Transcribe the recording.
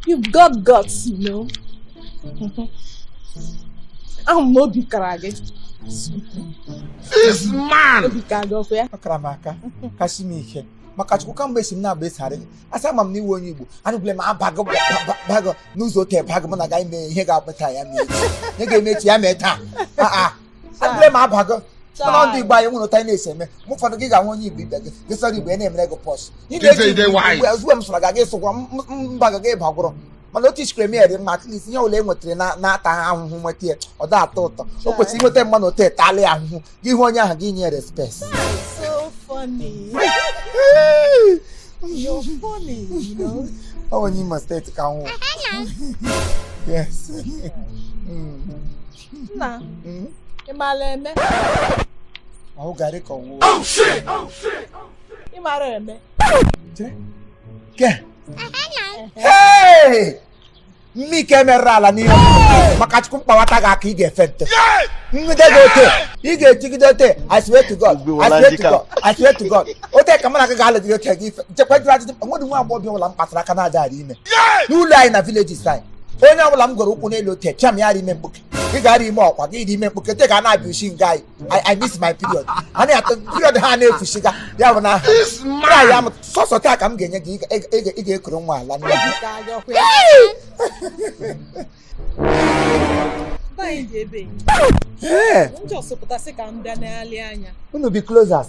You've got guts, you know. Ị ma n'obi kara gị. This man! Obi kara gị ọkụ ya. Ọ kara m aka, kasi m ike. maka chukwu kamgbe esi m na-agba esarị gị asị ama m n'ị wụ onye igbo anụgwule m abago bago n'ụzọ ote bago m na aga ime ihe ga-abụta ya mee echi ya ga-eme echi ya mee taa adịle m abago mana ndị igbo anyị nwere otu anyị na-esi eme mgbe ụfọdụ gị ga-ahụ onye igbo ibe gị gị sụọrọ igbo ya na-emere gị pose ị Ije ide na-eji nwayọ. igbo ozugbo m sụọrọ gị gị sụgwọ mba ga gị bagwụrụ mana otu isikere mere dị mma at least ihe ọbụla e nwetara na- na-ata ha ahụhụ nweta ya ọ da atọ ụtọ o kwesịrị inweta mma na otu etali ya ahụhụ gị hụ onye ahụ gị nye respect So funny. You're funny, you know. ọ onye imo steeti ka m wụ yes Mm. nna hmm? ị maara eme ahụ garị ka ọnwụ oh, oh, ị maara eme ke mme ike merụrụ ala n'ihe maka chukwu m kpawata gị aka ị ga-efe nte ngide gị ote ị ga-ejigide ote I swear to God I swear to God I swear to God ote ka mụ na gị ga-alụgide ote gị jekwa jụrụ ajụjụ nwa agbọghọ ọbụla m kpatara aka na-adịrị ime n'ụlọ anyị na vileji anyị onye ọbụla m goro ụkwụ n'elu ote cham ya rị ime mkpuke ị ga-arị ime ọkwa gị dị ime mkpuke te ka a na-abịa usi nga anyị I miss my period a na-atụ period ha na-efusiga ya bụ na ya m sọsọ taa ka m ga-enye gị ị ga-ekuru nwa ala nne gị unu bi closers